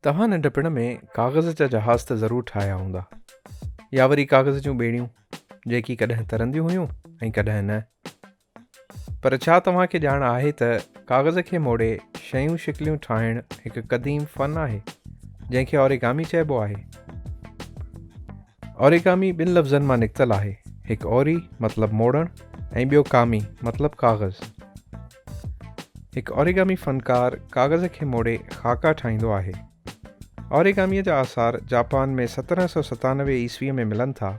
توهان ننڍپڻ ۾ ڪاغذ جا جهاز ته ضرور ٺاهيا هوندا يا وري ڪاغذ جون ٻيڙيون جيڪي ڪڏهن ترنديون هيون ۽ ڪڏهن نه پر ڇا توهان کي ڄاڻ آهي ته ڪاغذ کي موڙي شيون شڪليون ٺاهڻ هڪ قديم فن آهي جنهن کي اوريگامي چئبو آهي اوريگامي ٻن لفظن مان نڪتل آهي هڪ اوري مطلب موڙڻ ۽ ٻيو ڪامي مطلب ڪاغذ هڪ اوريگامي فنڪار ڪاغذ کي موڙي خاڪا ٺاهيندو آهي. اوريگاميء جا آثار جاپان ۾ سترهن سؤ ستانوي عيسويء ۾ ملن ٿا،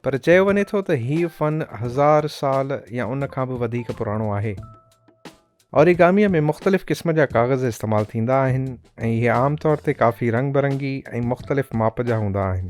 پر چيو وڃي ٿو ته هيء فن هزار سال يا ان کان به وڌيڪ پراڻو آهي. اوريگاميء ۾ مختلف قسم جا ڪاغذ استعمال ٿيندا آهن ۽ اهي عام طور تي ڪافي رنگ برنگي ۽ مختلف ماپ جا هوندا آهن.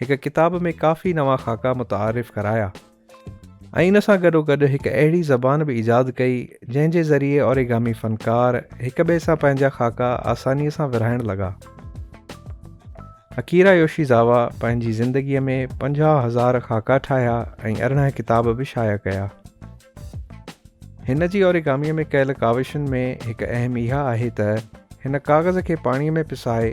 هڪ ڪتاب ۾ ڪافي نوان خاڪا متعارف ڪرايا ۽ ان سان گڏوگڏ هڪ اهڙي زبان به ايجاد ڪئي جنهن جي ذريعي اوريگامي فنڪار هڪ ٻئي سان پنهنجا خاڪا آسانيء سان ورهائڻ لڳا اڪيرا يوشي زاوا پنهنجي زندگيء ۾ پنجاهه هزار خاڪا ٺاهيا ۽ ارڙهن ڪتاب به شايع ڪيا هن جي اوريگاميء ۾ ڪيل ڪاوشن ۾ هڪ اهم اها آهي ته هن ڪاغذ کي پاڻيء ۾ پسائي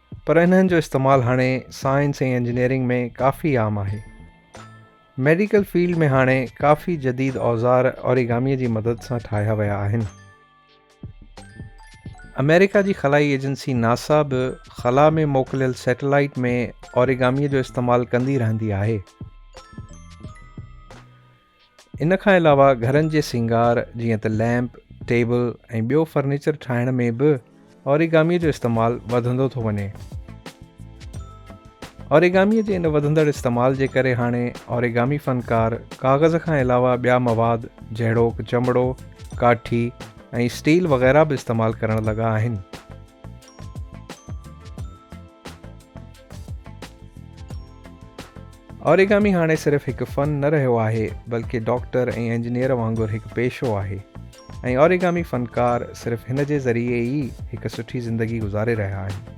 پر انهن جو استعمال هاڻي سائنس ۽ انجنيئرنگ ۾ ڪافي عام آهي. ميڊيڪل فيلڊ ۾ هاڻي ڪافي جديد اوزار اوريگاميء جي مدد سان ٺاهيا ويا آهن. آمريڪا جي خلائي ايجنسي ناسا به خلا ۾ موڪليل سيٽلائيٽ ۾ اوريگاميء جو استعمال ڪندي رهندي آهي. ان کان علاوه گهرن جي سينگار جيئن ته ليمپ، ٽيبل ۽ ٻيو فرنيچر ٺاهڻ ۾ به اوريگامي جو استعمال وڌندو ٿو وڃي. اوريگامي جي ان وڌندڙ استعمال جي ڪري هاڻي اوريگامي فنڪار ڪاغذ کان علاوه ٻيا مواد جهڙوڪ چمڙو، ڪاٺي ۽ اسٽيل وغيره به استعمال ڪرڻ لڳا آهن. اوريگامي هاڻي صرف هڪ فن نه رهيو آهي بلڪه ڊاڪٽر ۽ انجنيئر وانگر هڪ پيشو آهي ۽ اوريگامي فنڪار صرف هن جي ذريعي ئي هڪ سٺي زندگي گذاري رهيا آهن.